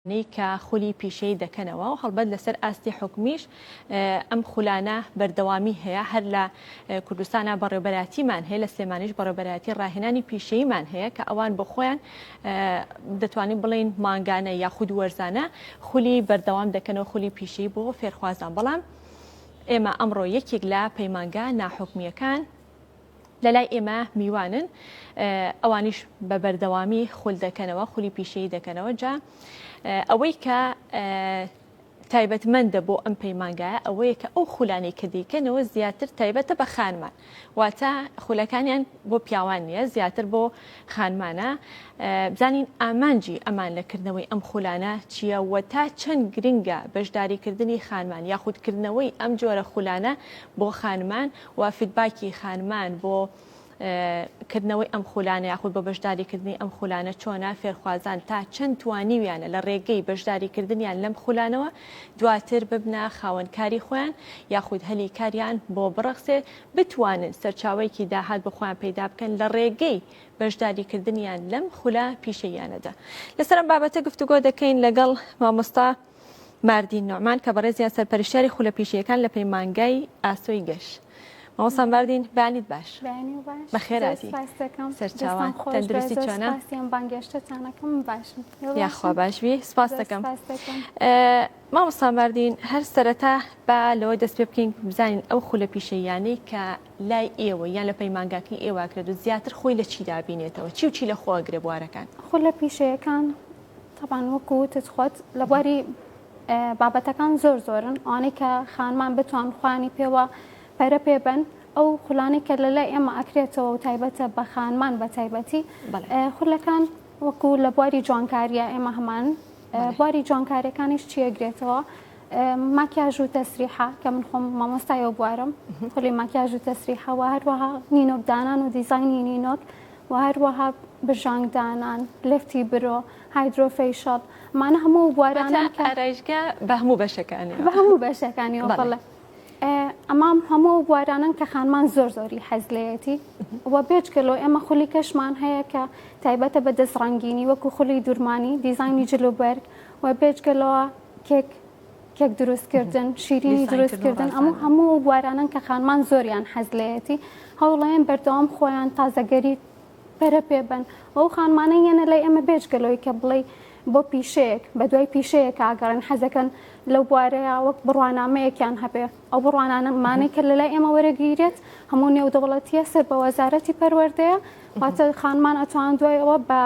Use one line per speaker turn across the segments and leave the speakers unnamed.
نەی کە خولی پیشەیی دەکەنەوە و هەڵبەت لەسەر ئاستی حکومیش ئەم خولانە بەردەوامی هەیە هەر لە کوردستانا بەڕێوبەرایەتیمان هەیە لە سلێمانیش بەڕێوبەرایەتی ڕاهێنانی پیشەییمان هەیە کە ئەوان بۆ خۆیان دەتوانین بڵین مانگانە یاخود وەرزانە خولی بەردەوام دەکەنەوە خولی پیشەیی بۆ فێرخوازان بەڵام ئێمە ئەمڕۆ یەکێک لە پەیمانگا ناحکمیەکان لەلای ئێمە میوانن ئەوانیش بە بەردەوامی خول دەکەنەوە خولی پیشەی دەکەنەوە جا ئەوەی کە تایبەتمەندە بۆ ئەم پەیمانگایە ئەوەیە کە ئەو خولانی کە دیکەنەوە زیاتر تایبەتە بە خانمان واتە خولەکانیان بۆ پیاوان نییە زیاتر بۆ خانمانە بزانین ئامانجی ئەمان لەکردنەوەی ئەم خولانە چییە و تا چەند گرنگە بەشداریکردنی خانمان یاخودکردنەوەی ئەم جۆرە خولانە بۆ خانمان وە فیدباکی خانمان بۆ کردنەوەی ئەم خولانە یاخود بۆ بەشداری کردنی ئەم خولانە چۆنە فێرخوازان تا چەند توانیویانە لە ڕێگەی بەشداری کردنیان لەم خولانەوە دواتر ببنە خاوەن کاری خۆیان یاخود هەلی کاریان بۆ بڕەخسێ بتوانن سەرچاوەیەکی داهات بۆ خۆیان پەیدا بکەن لە ڕێگەی بەشداری کردنیان لەم خولە پیشەیانەدا لەسەر ئەم بابەتە گفتوگۆ دەکەین لەگەڵ مامۆستا باردین نوعمان کە بەڕێزیان سەرپەرشتیاری خولە پیشەیەکان لە پەیمانگای ئاسۆی گەش. مامۆستا باردین بەیانیت باش بەیانی باش بەخێر زۆر هاتی سوپاس دەکەم سەرچاوان دەستان خۆش بێ تەندروستی زۆر چۆنە سوپاسیان بانگێشتتانەکەم
باشم تۆ یاخوا باشم باش
بی سپاس زۆر دەکەم سوپاس دەکەم ئە، مامۆستا باردین هەر سەرەتا با لەوە دەست پێ بکەین بزانین ئەو خولە پیشەییانەی کە لای ئێوە یان لە پەیمانگاکەی ئێوە ئەکرێت و زیاتر خۆی لە چیدا ئەبینێتەوە چی و چی لە خۆ ئەگرێ بوارەکان؟ خولە پیشەیەکان
تەبعەن وەکو وتت خۆت لە بواری بابەتەکان زۆر زۆرن ئەوانەی کە خانمان بتوان خوانی پێوە پەرە پێ بەن ئەو خولانەی کە لە لای ئێمە ئەکرێتەوە و تایبەتە بە خانمان بە تایبەتی خولەکان وەکو لە بواری جوانکاریە ئێمە هەمان بواری جوانکارەکانیش چیەگرێتەوە ماکیاژ و تەسریحا کە من خۆم مامۆستایەوە بوارم خولی ماکیاژ و تەسریحەوە هەروەها نینۆکدانان و دیزانی نینۆک و هەروەها بژانگ دانان، لفتی برۆ، هایدرۆ فەیشەڵ، مانە هەموو ئەو بوارانە کە. واتە ئارایشگا بە هەموو
بەشەکانیەوە. بە هەموو بەشەکانیەوە
بەڵێ. ئەمە هەموو ئەو بوارانەن کە خانمان زۆر زۆری حەز لێیەتی و بێجگە لەوە ئێمە خولی کەشمان هەیە کە تایبەتە بە دەست ڕەنگینی وەکو خولی دورمانی دیزانی جل و بەرگ و بێجگە لەوە کێک کێک دروستکردن شیرینی دروستکردن ئەمە هەموو ئەو بوارانن کە خانمان زۆریان حەز لەیەتی هەوڵەیەن بەردەوام خۆیان تازەگەری پەرە پێبن ئەو خانمانە یەنە لای ئەمە بێجگەلەوەی کە بڵێ بۆ پیشەیەک بە دوای پیشەیە کاگەڕێن حەزەکەن لەو بوارەیە وەک بڕوانامەیەکیان هەبێ ئەو بڕوانانەمانەی کە لەلای ئێمە وەرەگیرێت هەموو نێودەوڵەتیە سەر بە وەزارەتی پەروەردەیە واتە خانمان ئەتوان دوای ئەوە بە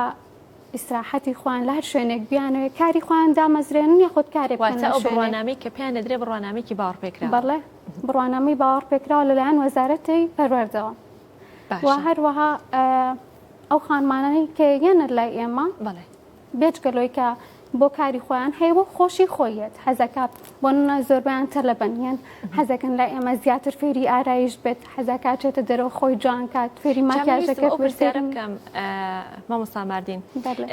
ئیسراحەتی خۆیان لە هەر شوێنێک بیانەوێت کاری خۆیان دامەزرێنن یاخود کارێک بکەن واتە لە ئەو شوێنێک. بڕوانامەی
کە پێیان دەدرێ بڕوانامێکی باوەڕپێکراوە بەڵێ
بڕوانامەی باوەڕپێکراوە لەلایەن وەزارەتی پەروەردەوە و باشە هەروەها ئە، ئەو خانمانەی کە یەنە لای ئێمە بەڵێ بێجگەلەوەی کە بۆ کاری خۆیان هەیە بۆ خۆشی خۆیەت حەزەکات بۆ نە زۆربیان تەلەبەن یان حەزەکەن لای ئێمە زیاتر فێری ئارایش بێت حەزاکات چێتە دەرەوە خۆی جوان کات فێری ماکیاژەکە پرسیارم بکەم
مامۆستا ماردین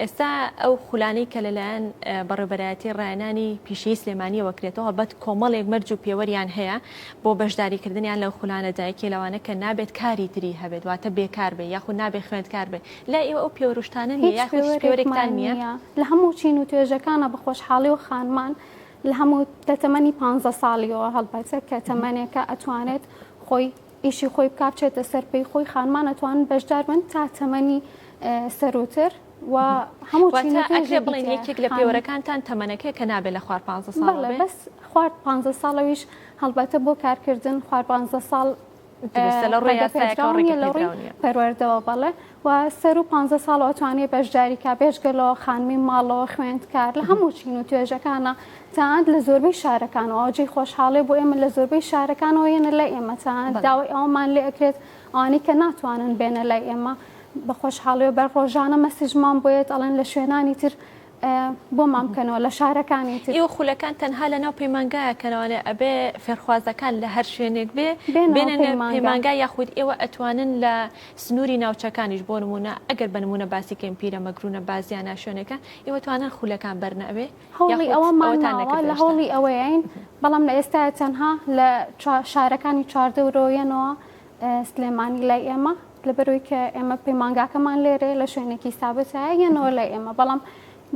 ئێستا ئەو خولانەی کە لەلایەن بەڕێبەرایەتی ڕایەنانی پیشەی سلێمانیەوە کرێتەوە بەت کۆمەڵێک مەرج و پێوەریان هەیە بۆ بەشداریکردنیان لەو خولانە دایکی لەوانە کە نابێت کاری تری هەبێت واتە بێکار بێ یاخود نابێ خوێندکار بێ لای ئێوە ئەو پێوە روشتانە نیە هیچ یاخود هیچ پێوەرێکمان پێوەرێکتان نیە؟ نییە لە هەموو چین و
توێژەکانا بە خۆشحاڵیەوە خانمان لە هەموو لە تەمەنی پانزە ساڵیەوە هەڵبەتە کە تەمەنێکە ئەتوانێت خۆی ئیشی خۆی بکا بچێتە سەر پێی خۆی خانمان ئەتوانن بەشدار بن تا تەمەنی ئە سەرووتر و هەموو چین و واتە ئەکرێ توێژێکی بڵێن تیایە
یەکێک لە خانم پێوەرەکانتان تەمەنەکەیە کە نابێ لە خوار پانزە ساڵەوە بەڵێ بێ؟ بەس خوار
پانزە ساڵەویش هەڵبەتە بۆ کارکردن خوار پانزە ساڵ پەروەردەوە بەڵێ و سەر و پ ساڵ ئۆتوانێ بەشداریکە بێژگەلەوە خانمی ماڵەوە خوێندکار لە هەموو چین و توێژەکانە تاند لە زۆربەی شارەکانەوە ئەوجی خۆشحاڵێ بۆ ئێمە لە زۆربەی شارەکانەوە یەنە لە ئێمە تاند داوای ئەومان لێ ئەکرێت ئانی کە ناتوانن بێنە لای ئێمە بە خۆشحاڵێ بەر ڕۆژانە مەسیجمان بۆیێت ئەڵێن لە شوێنانی تر بۆمان بکەنەوە لە شارەکانی تر. ئێوە خولەکان تەنها
لەناو پەیمانگایە کەنەوانێ ئەبێ فێرخوازەکان لە هەر شوێنێک بێ بێنە پەیمانگا یاخود ئێوە ئەتوانن لە سنوری ناوچەکانیش بۆ نمونە ئەگەر بە نمونە باسی کەین پیرە مەگرونە بازیانە شوێنەکە ئێوە توانن خولەکان بەرنە ئەوێ هەوڵی ئەوەمان
ناوە لە هەوڵی ئەوەین بەڵام لە ئێستا تەنها لە شارەکانی چواردەورۆیەنەوە سلێمانی لای ئێمە لەبەرئەوەی کە ئێمە پەیمانگاکەمان لێرەیە لە شوێنێکی سابتە یەنەوە لای ئێمە بەڵام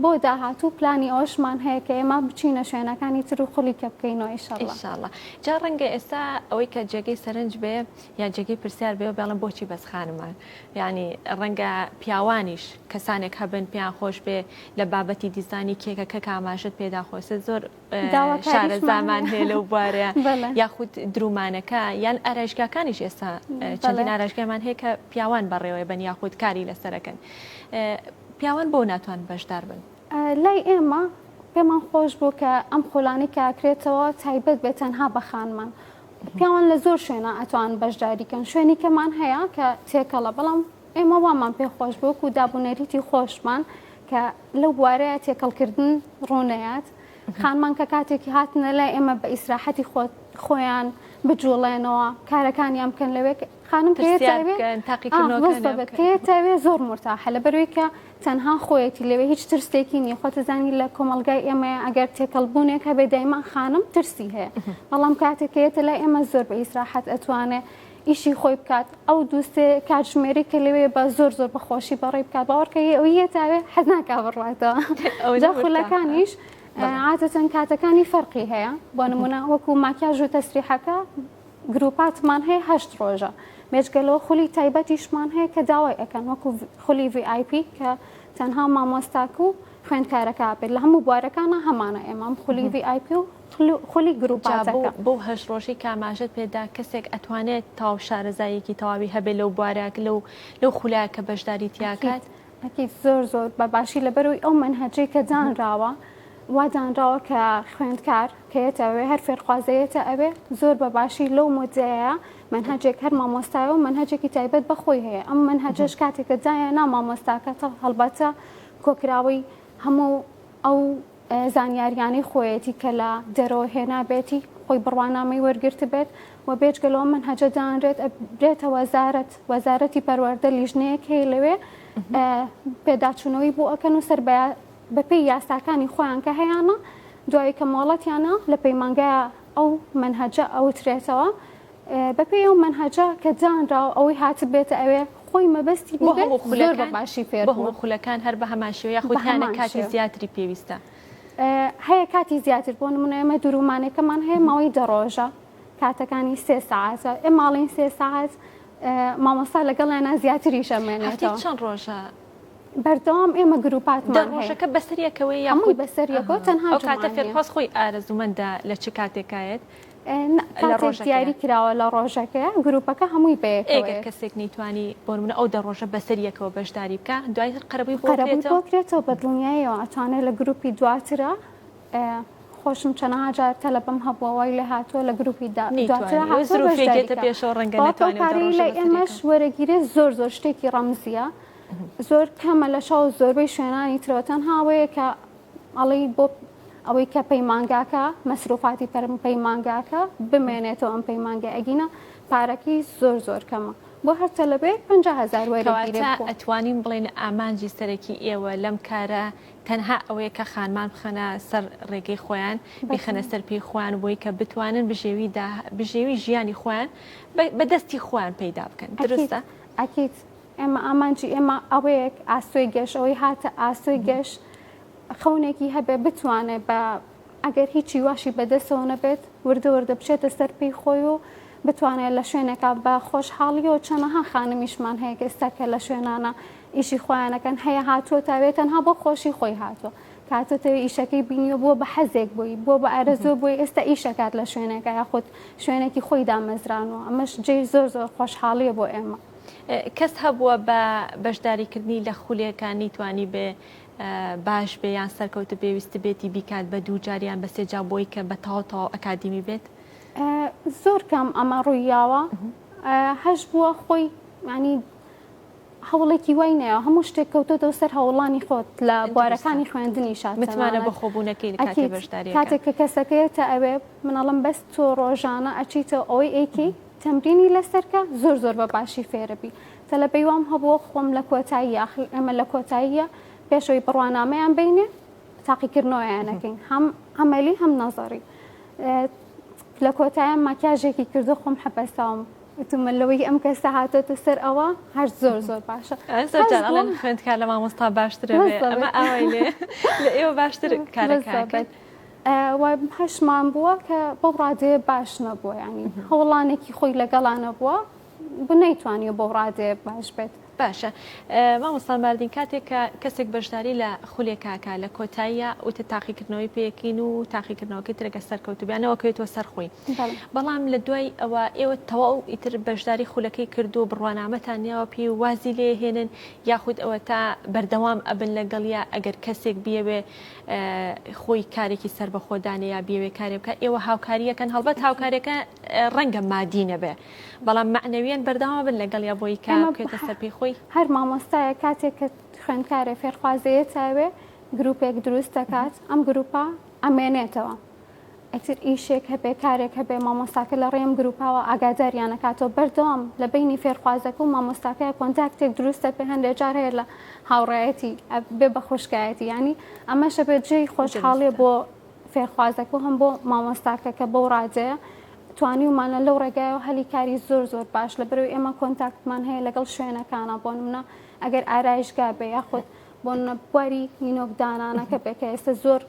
بۆ داهاتوو پلانی ئەوشمان هەیە کە ئێمە بچینە شوێنەکانی تر و خولی کە بکەینەوە ئیشاڵڵە
جا ڕەنگە ئێستا ئەوەی کە جێگەی سەرنج بێ یا جێگەی پرسیار بێ و بێڵم بۆچی بەس خانمان ینی ڕەنگە پیاوانیش کەسانێک هەبن پێیان خۆش بێ لە بابەتی دیزانی کێکەکە کاماژت پێدا خۆست زۆر شارەزامان هەیە لەو بوارە یاخود درومانەکە یان ئارایشگاکانیش ئێستا چەندین ئاراشگەمان هەیە کە پیاوان بەڕێوەێ بن یاخود کاری لەسەرەکەن پیاوان بۆ ناتوان بەشدار بن لای ئێمە
پێمان خۆش بوو کە ئەم خولانی کاکرێتەوە تایبەت بێت تەنها بە خانمان پیاوان لە زۆر شوێنە ئەتوان بەشداریکەن شوێنی کەمان هەیە کە تێکەڵە بەڵام ئێمە وامان پێ خۆش بوو و دابونەریتی خۆشمان کە لەو بوارەیە تێکەڵکردن ڕوونەیات خانمان کە کاتێکی هاتنە لای ئێمە بە ئیسراحەتی خۆت خۆیان بجوڵێنەوە کارەکانیان بکەن لەوێک خانم تاقیکردنەوەێ زۆر مرتاحە لە بەروێکە تەنها خۆیەتی لەوێ هیچ ترسێکی نیە خۆتەزانی لە کۆمەلگای ئێمە ئەگەر تێکەڵبوونێک هەبێ دایمان خانم ترسی هەیە بەڵام کاتێکێتە لای ئێمە زۆر بە ئیسراحەت ئەتوانێ ئیشی خۆی بکات ئەو دووسێ کاتژمێری کە لەوێ بە زۆر زۆر بەخۆشی بەڕێ بکات باوەڕکە ئەوی یەتاوێ حەز ناکا بڕاتەوە جا خولەکانیش عادەتەن کاتەکانی فەرقی هەیە بۆ نمونە وەکو ماکیاژ و تەسریحەکە گروپاتمان هەیە هەشت ڕۆژە مێچگەلەوە خولی تایبەتیشمان هەیە کە داوای ئەەکەن وەکو خولی VIP کە تەنها مامۆستاک و خوێندکارەکە بێت لە هەموو بوارەکانە هەمانە ئێمام خولی VIP و خولی گروپاتەکە. جا بەو هەشت ڕۆژەی
کە ئاماژەت پێ دا کەسێک ئەتوانێت تەواو شارەزاییەکی تەواوی هەبێت لەو بوارە لەو لەو خولایە کە بەشداری تیا ئەکید کات؟ ئەکید زۆر
زۆر بە باشی لەبەرەوەی ئەو مەنهەجەی کە دانراوە وا دانراوە کە خوێندکار کە یەتە ئەوێ هەر فێرخوازە یەتە ئەوێ زۆر بە باشی لەو مدەیە مەنهەجێک هەر مامۆستایە و مەنهەجێکی تایبەت بە خۆی هەیە ئەم مەنهەجەش کاتێک کە دایە نا مامۆستاکە تە هەڵبەتە کۆکراوەی هەموو ئەو زانیاریانەی خۆیەتی کە لە دەرەوە هێنابێتی، خۆی بڕوانامەی وەرگرتبێت و بێجگە لەوە مەنهەجە دانرێت ئەبرێتە وەزارەت، وەزارەتی پەروەردە لیژنەیەک هەیە لەوێ پێداچوونەوەی بۆ ئەکەن و سەر بەپێی یاساکانی خۆیان کە هەیانە دوایی کە مۆڵەتیانە لە پەیمانگای ئەو مەنهەجە ئەوترێتەوە. بەپێی ئەو مەنهەجە کە دانراوە ئەوەی هاتبێتە ئەوێ خۆی مەبەستی بۆ هەموو خولەکان بە باشی فێر بۆ هەموو خولەکان هەر بە
هەمان شێوە یاخودیانە کاتی زیاتری پێویستە هەیە
کاتی زیاتر بۆ نمونە ئێمە درومانەکەمان هەیە ماوەی دەڕۆژە کاتەکانی سێ ساعتە ئێ ماڵین سێ ساعت مامۆستا لەگەڵیانە زیاتری شەمێنێتەوە چەند ڕۆژە
بەردەوام
ئێمە گروپات دەڕۆژەکە بەسەریەکەوەی
یاخود بەسەریەکەوە
تەنها کاتە فێرخواست خۆی
ئارەزومەندە لە چ کاتێکایەت کاتێک
دیاری کراوە لە ڕۆژەکەیە گروپەکە هەمووی بەیەکەوە ئێگەر یەک. کەسێک
نەیتوانی بۆرمنە ئەو دە ڕۆژە بەسەر یەکەوە بەشداری بکە دوای هەر قەرەبووی خۆ قەرەبووی بکرێتەوە بۆکرێتەوە بە
دڵنیایەوە ئەتوانێت لە گروپی دواترا ئە، خۆشم چەنەها جار تەلەبەم هەبووە وای لێ هاتووە لە گروپی دا دواترا نەیتوانی وە هاتووە زروفێک بەشداری
دێتە کە پێشەوە ڕەنگە بەڵام نەتوانێ و دە پارەی ڕۆژە لای بەسەر
ئێمەش یەکەوە وەرەگیرێ زۆر زۆر شتێکی ڕەمزیە زۆر کەمە لە شەو زۆربەی شوێنانی ترەوە تەنها ئەوەیە کە ئەڵێی بۆ ئەوەی کە پەیمانگاکە مەسروفاتی پەرم پەیمانگاکە بمێنێتەوە ئەم پەیمانگە ئەگینە پارەکەی زۆر زۆر کەمە بۆ هەر تەلەبەیەک پ هزار ئەتوانین بڵێن
ئامانجی سەرەکی ئێوە لەم کارە تەنها ئەوەیە کە خانمان بخەنە سەر ڕێگەی خۆیان بخەنە سەر پێی خوان بۆی کە بتوانن بژێوی بژێوی ژیانی خۆیان بە دەستی خۆیان پەیدا بکەن درستە ئەکییت.
ئێمە ئامانجی ئێمە ئەوەیەک ئاسۆی گەش ئەوەی هاتە ئاسۆی گەش خەونێکی هەبێ بتوانێت بە ئەگەر هیچی واشی بەدەستەوە نەبێت وردە وردە بچێتە سەر پێی خۆی و بتوانێت لە شوێنێکا بە خۆشحاڵی و چەنەها خانمیشمان هەیە کە ئێستا کە لە شوێنانە ئیشی خۆیانەکەن هەیە هاتووە تاوێت تەنها بۆ خۆشی خۆی هاتووە کاتۆتەوە ئیشەکەی بینیوە بووە بە حەزێک بووی بۆ بە ئارەزۆ بۆی ئێستا ئیشەکات لە شوێنەکە یاخود شوێنێکی خۆی دامەزرانەوە ئەمەش جێ زۆر زۆر خۆشحاڵیە بۆ ئێمە. کەس هەبووە
بە بەشداریکردنی لە خولێکە نیتوانیبێ باش بێ یان سەرکەوت بێ ویستبێتی بیکات بە دوو جار یان بە سێ جا بۆی کە بە تەواو تەواو ئەکادیمی بێت؟ زۆر
کەم ئەمە ڕوویاوە هەش بووە خۆی ینی هەوڵێکی وای نەیە هەموو شتێک کەوتۆتەوە سەر هەوڵانی خۆت لە بوارەکانی خوێندنی شات متمانە بە خۆبوونەکەی
کاتێک کە کەسەکەیەتە
ئەوێ منەڵم بەس تۆ ڕۆژانە ئەچیتەوە ئەوەی ئەیکەی تەمرینی لەسەرکە زۆر زۆر بە باشی فێربی تەلەبەی وام هەبووە خۆم لە کۆتایی یاخل ئێمە لە کۆتاییە پێشەوەی بڕوانامەیان بینێ تاقیکردنەوەیانەکەین هەم ئەمەلی هەم نەزاری لە کۆتایە ماکیاژێکی کردو خۆم حەپەساوم وتمە لەوەی ئەم کەسە هاتۆتە سەر ئەوە هەر زۆر زۆر باشە
خوێندکار لە مامۆستا باشترە ئەمە ئاوای لێ لە ئێوە باشتر کارەکە. و
هەشمان بووە کە بەو ڕادەیە باش نەبووە ینی هەوڵانێکی خۆی لەگەڵا نەبووە بنەیتوانیە بەو ڕادەیە باش بێت. باشە
مامۆستا ماردین کاتێک کە کەسێک بەشداری لە خولێکاکە لە کۆتاییە وتە تاقیکردنەوەی پێکین و تاقیکردنەوەکەی ترەکە سەرکەوتو بیانەوە کەوێتەوە سەرخۆی بەڵام لە دوای ئەوە ئێوە تەواو ئیتر بەشداری خولەکەی کردو بڕوانامەتان نیاوە پێی و وازی لێهێنن یاخود ئەوە تا بەردەوام ئەبن لەگەڵیا ئەگەر کەسێک بیەوێ خۆی کارێکی سەربەخۆ دانێ یا بێوێ کارێ بکە ئێوە هاوکاریەکەن هەڵبەت هاوکارەکە ڕەنگە مادی نەبێ بەڵام معنەویان بەرداوا بن لەگەڵ یا بۆی کارکێتە سەرپی خۆی هەر مامۆستایە
کاتێک کە خوێندکارێ فێرخوازەیە تاوێ گرروپێک دروست دەکات ئەم گروپە ئەمێنێتەوە ئیتر ئیشێک هەبێ کارێک هەبێ مامۆستاکە لە ڕێم گروپاوە ئاگاداریان نکاتەوە بەردەوام لە بینی فێرخوازەکە و مامۆستاکەی کۆنتاکتێک دروستە پێ هەندێک جار هەیە لە هاوڕایەتی بێ بە خوشکایەتی ینی ئەمەشە بێت جێی خۆشحاڵێ بۆ فێرخوازەکە هەم بۆ مامۆستاکە کە بەو ڕادەیە توانیومانە لەو ڕێگایەوە هەلی کاری زۆر زۆر باش لە بەرەوەی ئێمە کۆنتاکتمان هەیە لەگەڵ شوێنەکانە بۆ منە ئەگەر ئارایشگا بێ یاخود بۆ بواری نینۆکدانانەکە بێکە ئێستا زۆر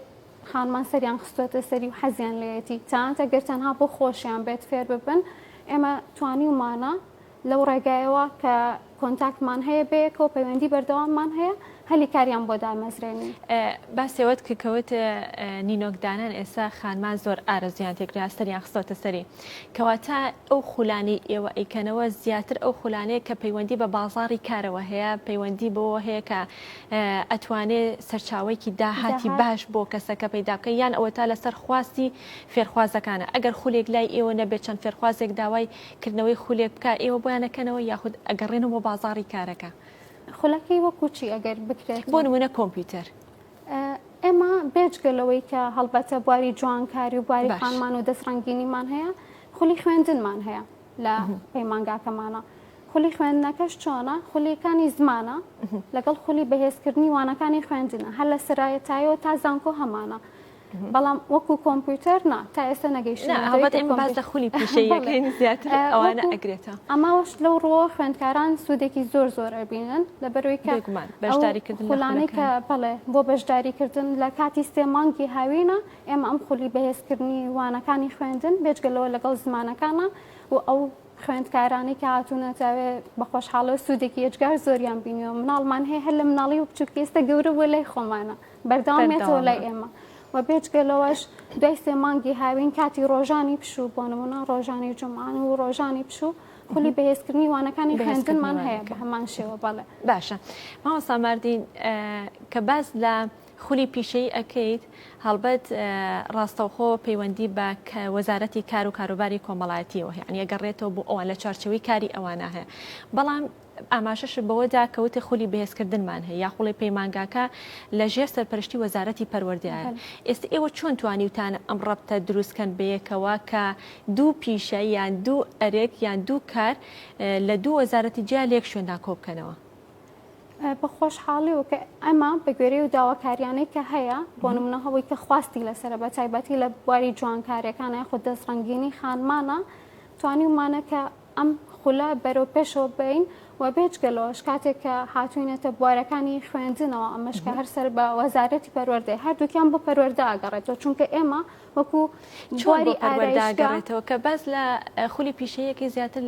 خانمان سەریان خستۆتە سەری و حەزیان لێیەتی تەنانەت ئەگەر تەنها بۆ خۆشیان بێت فێر ببن ئێمە توانیومانە لەو ڕێگایەوە کە کۆنتاکتمان هەیە بەیەکەوە پەیوەندی بەردەواممان هەیە هەلی کاریان بۆ دامەزرێنی باسێوەت
کە کەوت نینۆکدانان ئێستا خانمان زۆر ئارەزیان تێکرا سەریان خستۆتە سەری کەواتە ئەو خولانی ئێوە ئەیکەنەوە زیاتر ئەو خولانەیە کە پەیوەندی بە بازاری کارەوە هەیە پەیوەندی بۆ هەیە کە ئەتوانێ سەرچاوەیەکی داهاتی باش بۆ کەسەکە پەیدا بکەن یان ئەوەتا لەسەر خواستی فێرخوازەکانە ئەگەر خولێک لای ئێوە نەبێت چەند فێرخوازێک داوای کردنەوەی خولێک بکە ئێوە بۆیان ئەکەنەوە یاخود ئەگەڕێنەوە بۆ بازاڕی کارەکە خولەکەی
وەکو چی ئەگەر بکرێت بۆ نمونە کۆمپیوتەر
ئێمە
بێجگە لەوەی کە هەڵبەتە بواری جوانکاری و بواری باش. خانمان و دەستڕەنگینیمان هەیە خولی خوێندنمان هەیە لە پەیمانگاکەمانە. خولی خوێندنەکەش چۆنە خولیەکانی زمانە لەگەڵ خولی بەهێزکردنی وانەکانی خوێندنە هەر لە سرایەتایەوە تا زانکۆ هەمانە بەڵام وەکو کۆمپیوتەر نا تا ئێستا نەگەیشت خولی
ئەگرێتە ئەماوەش لەو ڕۆ
خوێندکاران سوودێکی زۆر زۆر ئەبینن لە بەروی کەگومان بەشداریکردنلانەی کە بڵێ بۆ بەشداریکردن لە کاتی سێ مانگی هاوینە ئێمە ئەم خولی بەهێزکردنی وانەکانی خوێندن بێجگە لەوە لەگەڵ زمانەکانە و ئەو خوێندکارانی کە هاتوونەتە بە خۆشحاڵە و سوودێکی یەجگار زۆریان بینیەوە مناڵمان هەیە هەر لە مناڵی و بچووکی ئێستا گەورە بووە لای خۆمانە بەردەوامێتەوە لای ئێمە و بێجگە لەوەش دوای سێ مانگی هاوین کاتی ڕۆژانی پشوو بۆ نمونە ڕۆژانی جمعان و ڕۆژانی پشوو خولی بەهێزکردنی وانەکانی خوێندنمان هەیە بە هەمان شێوە بەڵێ باشە ماوە
ساماردین کە باس لە خولی پیشەیی ئەکەیت هەڵبەت ڕاستەوخۆ پەیوەندی بە وەزارەتی کار و کاروباری کۆمەڵایەتیەوە هەیە یعنی ئەگەڕێتەوە بۆ ئەوان لە چارچەوەی کاری ئەوانە هەیە بەڵام ئاماژەش بەوەدا کەوتە خولی بەهێزکردنمان هەیە یا خوڵی پەیمانگاکە لە ژێر سەرپەرشتی وەزارەتی پەروەردەیە ئێستا ئێوە چۆن توانیوتان ئەم ڕەبتە دروستکەن بەیەکەوە کە دوو پیشە یان دوو ئەرک یان دوو کار لە دوو وەزارەتی جیا لێک شوێندا کۆبکەنەوە بە
خۆشحاڵیەوە کە ئەمە بە گوێرەی و داواکاریانەی کە هەیە بۆ نمونە هەوەی کە خواستی لەسرە بە تایبەتی لە بواری جوانکارەکان یاخود دەست ڕنگینی خانمانە توانیمانە کە ئەم خولە بەرەو پێشەوە بین و بێجگەلەوەش کاتێک کە هاتوینەتە بوارەکانی خوێندنەوە ئەمەش کە هەرسەر بە وەزارەتی پەروەردەی هەردووکیان بۆ پەروەەردە ئاگەڕێتەوە چونکە ئێمە وەکو جواری
ئاگەڕێتەوە کە باز لە خولی پیشەیەکی زیاتر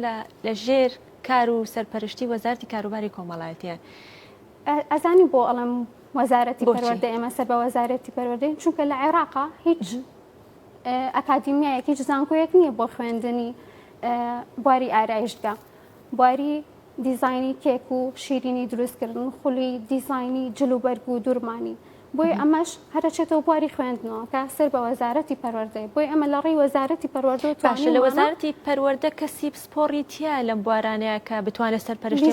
لە ژێر کار و سەرپەرشتی وەزارتی کاروباری کۆمەڵایەتیە.
ئەزانی بۆ ئەڵم وەزارەتی پەروەردە ئێمە سەر بە وەزارەتی پەروەردەین چونکە لە عێراقا هیچ ئەکادیمیایەک هیچ زانکۆیەک نییە بۆ خوێندنی بواری ئارایشتگە بواری دیزایانی کێک و شیرینی دروستکردن خولی دیزایانی جلوبەرگ و دوورمانی بۆیە ئەمەش هەرەچێتەوە بواری خوێندنەوە کە سەر بە وەزارەتی پەروەردەی بۆی ئەمە لە ڕێی وەزارەتی پەروەردە باشە لە وەزارەتی
پەروەردە کەسی پسپۆڕی تیا لەم بوارانەیە کە بتوانێت سەر پەرشتی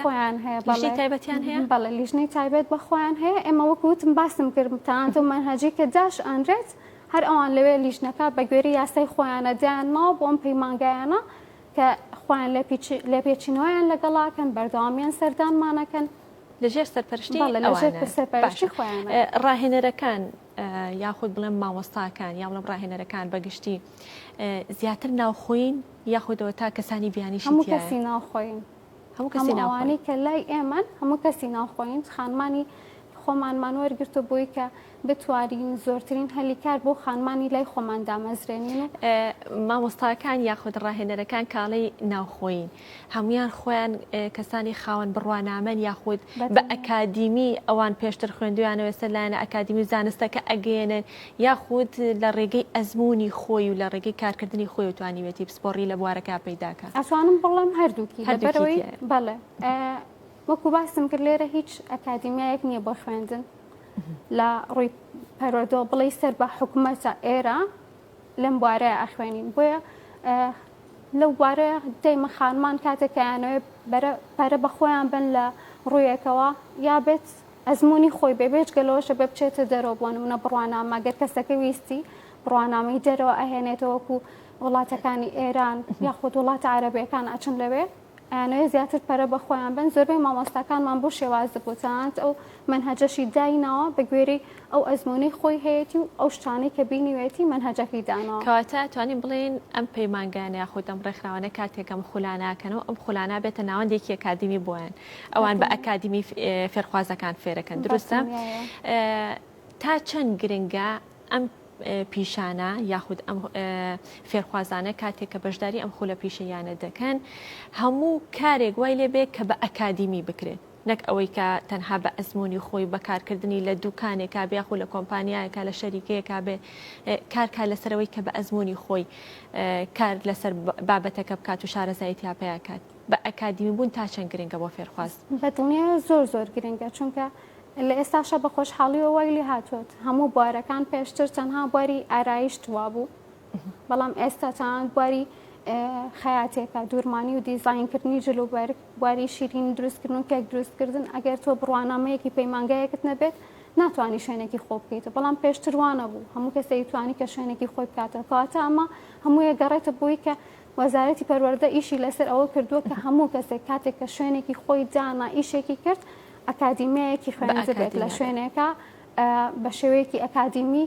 خۆیان
هەیە بەڵی تایبەتیان هەیە
بەڵێ لیژنەی تایبەت
بەخۆیان هەیە ئێمە وەکوتم باسم کردم تاانتۆ مەنهجی کە داش ئەنرێت هەر ئەوان لەوێ لیژنەکە بە گوێری یاسای خۆیانە دیان ماوە بۆم پەیمانگایانە کە خۆیان لە پێچینەوەیان لەگەڵاکەن بەردەوامیان سەردانمانەکەن
لەژێر سەرپەرشتی ئەوانە ڕاهێنەرەکان یاخود بڵێم مامۆستاکان یا بڵم ڕاهێنەرەکان بەگشتی زیاتر ناوخۆین یاخودەوە تا کەسانی بیانیش هەموو کەسی ناوخۆین
هەموو کەسی
ناوانەی کە لای
ئێمە هەموو کەسی ناوخۆین خانمانی خۆمانمان وەرگرتو بووی کە بتوانین زۆرترین هەلی کار بۆ خانمانی لای خۆمان دامەزرێنین و. مامۆستاکان
یاخود ڕاهێنەرەکان کاڵی ناوخۆیین، هەموویان خۆیان کەسانی خاوەن بڕوانامەن یاخود بە ئەکادیمی ئەوان پێشتر خوێندویانەوە سەر لایەنە ئەکادیمی و زانستەکە ئەگەیەنن یاخود لە ڕێگەی ئەزموونی خۆی و لە ڕێگەی کارکردنی خۆیەوە توانیوێتی پسپۆڕی لە بوارەکە پەیدا کات. ئەتوانم بڵێم
هەردووکی لەبەرئەوەی بەڵێ. وەکو باسم کرد لێرە هیچ ئەکادیمیایەک نییە بۆ خوێندن لە ڕووی پەرۆدۆ بڵی سەر بە حکوومەتە ئێرە لەم بوارەیە ئەخوێنین بۆیە لەو بوارەیە دەیمە خانمان کاتێکیانەوەێ پەرە بە خۆیان بن لە ڕوویەکەوە یا بێت ئەزمموی خۆی بێ بێچ گەلەوەشە بە بچێتە دەرەوە بۆن و نە بڕوانامە گەر کەسەکە ویستی بڕوانامەی دەرەوە ئەهێنێتەوەکو وڵاتەکانی ئێران یاخود وڵاتە عربەکان ئەچن لەوێ ئەیانەوێت زیاتر پەرە بە خۆیان بەن، زۆربەی مامۆستاکانمان بۆ شێوازە بۆتانت ئەو مەنهەجەشی دایناوە بە گوێرەی ئەو ئەزموونەی خۆی هەیەتی و ئەو شتانەی کە بینیوێتی مەنهەجەکەی داناوە. کەواتە ئەتوانین
بڵێین ئەم پەیمانگایانە یاخود ئەم ڕێکخراوانە کاتێک ئەم خولانە ئەکەن و ئەم خولانە بێتە ناوەندێکی ئەکادیمی بۆیان ئەوان بە ئەکادیمی فێرخوازەکان فێرەکەن، دروستە؟ تا چەند گرنگە ئەم پیشانە یاخود ئەم فێرخوازانە کاتێک کە بەشداری ئەم خولە پیشەیانە دەکەن هەموو کارێک وای لێبێت کە بە ئەکادیمی بکرێت نەک ئەوەی کە تەنها بە ئەزمموی خۆی بەکارکردنی لە دوکانێکا بیاخۆ لە کۆمپانیایەکە لە شەریکەیەکا بێ کارکە لەسەرەوەی کە بە ئەزمموی خۆی کار لەسەر بابەتەکە بکات و شارەزایتیا پیاکات. بە ئەکادیمی بوون تا چەند گرنگە بۆ فێرخواز؟ بە دڵنیایە زۆر
زۆر گرنگە چونکە لە ئێستاشا بە خۆشحاڵیەوە وای لێ هاتووت هەموو بوارەکان پێشتر تەنها بواری ئارایشت وابوو بەڵام ئێستا تەنان بواری خەیاتێکە دوورمانی و دیزینکردنی جلوبەر بواری شیرین دروستکردن و کێک دروستکردن ئەگەر تۆ بڕوانامەیەکی پەیمانگایەکت نەبێت ناتوانانی شوێنێکی خۆ بکەیت بەڵام پێشتروانە بوو هەموو کەسێک توانی کە شوێنێکی خۆی بکاتەوە کەواتە ئەمە هەموویە گەڕێتە بۆی کە وەزارەتی پەروەردە ئیشی لەسەر ئەوە کردووە کە هەموو کەسێک کاتێک کە شوێنێکی خۆی دانا ئیشێکی کرد ئەکادیمیایەکی خوێندبێت لە شوێنێکە بە شێوەیەکی ئەکادیمی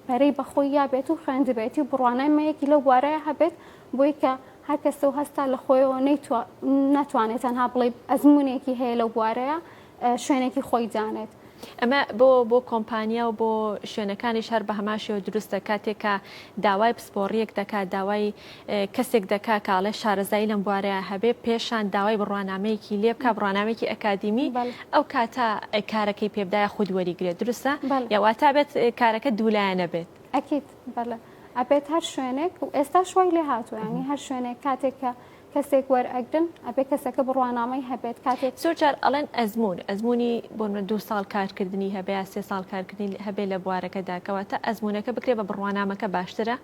پەرەی بەخۆی یابێت و خوێندبێتی و بڕوانای مەیەکی لەو بوارەیە هەبێت بۆی کە هەر کەسە و هەستا لە خۆیەوە نەتوانێت تەنها بڵێ ئەزمونێکی هەیە لەو بوارەیە شوێنێکی خۆی دانێت. ئەمە بۆ
بۆ کۆمپانیا و بۆ شوێنەکانیش هەر بەهەمان شێوە دروستە کاتێک کە داوای پسپۆڕیەک دەکات داوای کەسێک دەکات کە ئەڵێ شارەزایی لەم بوارەیە هەبێ پێشان داوای بڕوانامەیەکی لێ بکا بڕوانامێکی ئەکادیمی ئەو کاتە کارەکەی پێبدایە خود وەریگرێت دروستە یا واتا بێت کارەکە دوولایەنە بێت ئەکیت
بەڵێ ئەبێت هەر شوێنێک و ئێستا شوای لێ هاتووانی هەر شوێنێک کاتێک کە کەسێک وەرئەگرن ئەبێ کەسەکە بڕوانامەی هەبێت کاتێک زۆر جار ئەڵێن ئەزمون
ئەزمونی بۆنمە دو ساڵ کارکردنی هەبێ یا سێ ساڵ کارکردنی هەبێ لە بوارەکەدا کەواتە ئەزمونەکە بکرێ بە بڕوانامەکە باشترە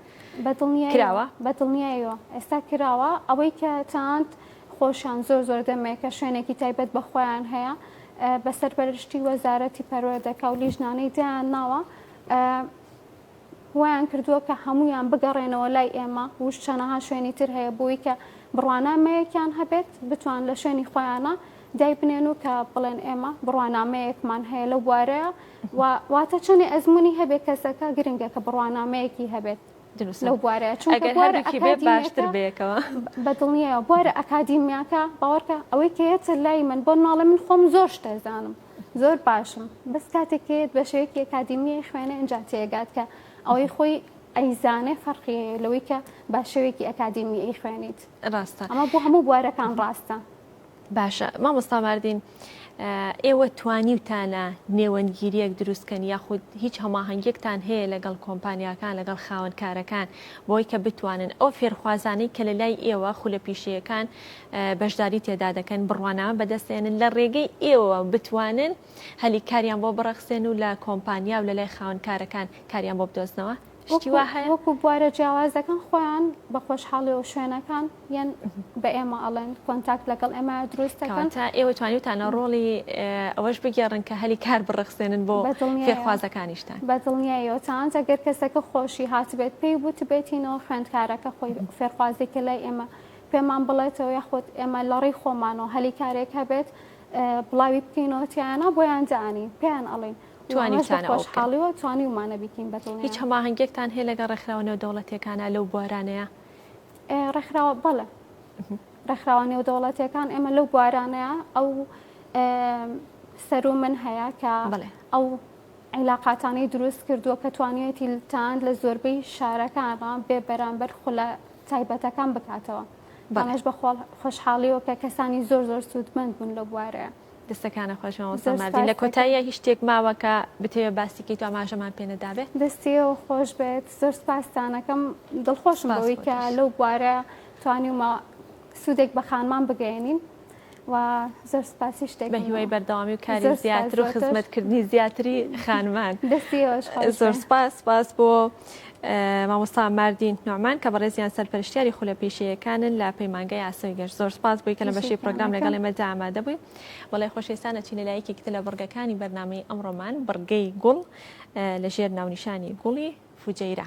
کراوە
بەدڵنیایەوە ئێستا کراوە ئەوەی کە تاند خۆشان زۆر زۆر دەمێکە شوێنێکی تایبەت بە خۆیان هەیە بەسەر بەرشتی وەزارەتی پەروەردەکە و لیژنانەی دیان ناوە وایان کردووە کە هەموویان بگەڕێنەوە لای ئێمە وش چەنەها شوێنی تر هەیە بۆوی کە بڕوانامەیەکیان هەبێت بتوان لە شوێنی خۆیانە دای بنێن و کە بڵێن ئێمە بڕوانامەیەکمان هەیە لەو بوارەیە و واتە چەنێ ئەزمموی هەبێت کەسەکە گرنگە کە بڕوانامەیەکی هەبێت لەو بوارەیە چونکە باشتر
بێکەوە بەدڵنیە
بوارە ئەکادیمیاکە باوەڕکە ئەوەی کەێتە لای من بۆ ناڵێ من خۆم زۆر شتێزانم زۆر باشم بەس کاتێک پێت بە شێوەیەکی ئەکادیمیە خوێنە ئەجا تێگات کە ئەوەی خۆی ئەیزانێ فەرقی لەوەی کە با شێوێکی ئەکادیمی ئەی خوێنیت ڕاستە ئەمە بۆ هەموو
بوارەکان
ڕاستە باشە
مامۆستا مردین ئێوە توانیوتانە نێوەندگیریەک دروستکەن یاخود هیچ هەماهنگێکتان هەیە لەگەڵ کۆمپانیاکان لەگەڵ خاونکارەکان بۆی کە بتوانن ئەو فێرخوازانەی کە لە لای ئێوە خولە پیشەیەکان بەشداری تێدا دەکەن بڕوانامە بەدەستێنن لە ڕێگەی ئێوەوە بتوانن هەلی کاریان بۆ بڕەخسێن و لە کۆمپانیا و لە لای خاون کارەکان کاریان بۆ بدۆزنەوە وەکو
بوارە جیاوازەکان خۆیان بە خۆشحاڵی و شوێنەکان یان بە ئێمە ئەڵێن کۆنتاکت لەگەڵ ئێمە دروستەکان تا ئێوە توانیوتانە
ڕۆڵی ئەوەش بگێڕن کە هەلی کار بڕەخسێنن بۆ فێرخوازەکانیشتان بە دڵنیایەوەتان
ئەگەر کەسەکە خۆشی هاتبێت پێی بوت بێتینەوە خوێندکارەکە خۆی فێرخوازێکە لای ئێمە پێمان بڵێتەوە یاخود ئێمە لەڕێی خۆمان و هەلی کارێک هەبێت بڵاوی بکەینەوە تیانە بۆیان دانی پێیان ئەڵین
توانیخۆشحاڵیوە توانیومانە
بیکەین بە هیچ هەماهنگێکتان هەیە
لەگە ڕێکخراوە نێو دەوڵەتەکانە لەو بوارانەیە
ڕێکخراوە بەڵە ڕێکخراوە نێو دەوڵەتەکان ئێمە لەو بوارانەیە ئەو سەر و من هەیە کە ئەو عیلاقاتانی دروست کردووە کە توانیەتی تاند لە زۆربەی شارەکانڕان بێ بەرامبەر خولە تایبەتەکان بکاتەوە ئەمەش بە خۆشحاڵیەوە کە کەسانی زۆر زۆر سوودمەند بوون لە بوارەیە دەستەکانە
خۆشمەوەسەمادی لە کۆتاییە هی شتێک ماوە کە بتەوێت باسیکەی تو ئاماژەمان پێنەدابێت دەستیەوە خۆش
بێت زۆر سپاستانەکەم دڵخۆشمەوەی کە لەو بوارە توانیمە سوودێک بە خانمان بگەێنین وا زۆر سپاسی شتێکم بە هیوای بەردەوامی و کاری
زۆر زیاتر سوپاس و بۆ تۆش. خزمەتکردنی زیاتری خانمان دەستی ئێوەش خۆش
زۆر بێ سپاس
سپاس بۆ اه، مامۆستا ماردین نوعمان کە بەڕێزیان سەرپەرشتیاری خولە پیشەیەکانن لە پەیمانگای ئاسۆی گەش زۆر سپاس بۆی کە لە بەشی تێشێتان پڕۆگرام لەگەڵ نەکەم ئێمە دا ئامادە بووی بەڵێ خۆشەویستان ئەچینە لای یەکێکی تر لە بڕگەکانی بەرنامەی ئەمڕۆمان بڕگەی گوڵ اه، لە ژێر ناونیشانی گوڵی فوجەیرە.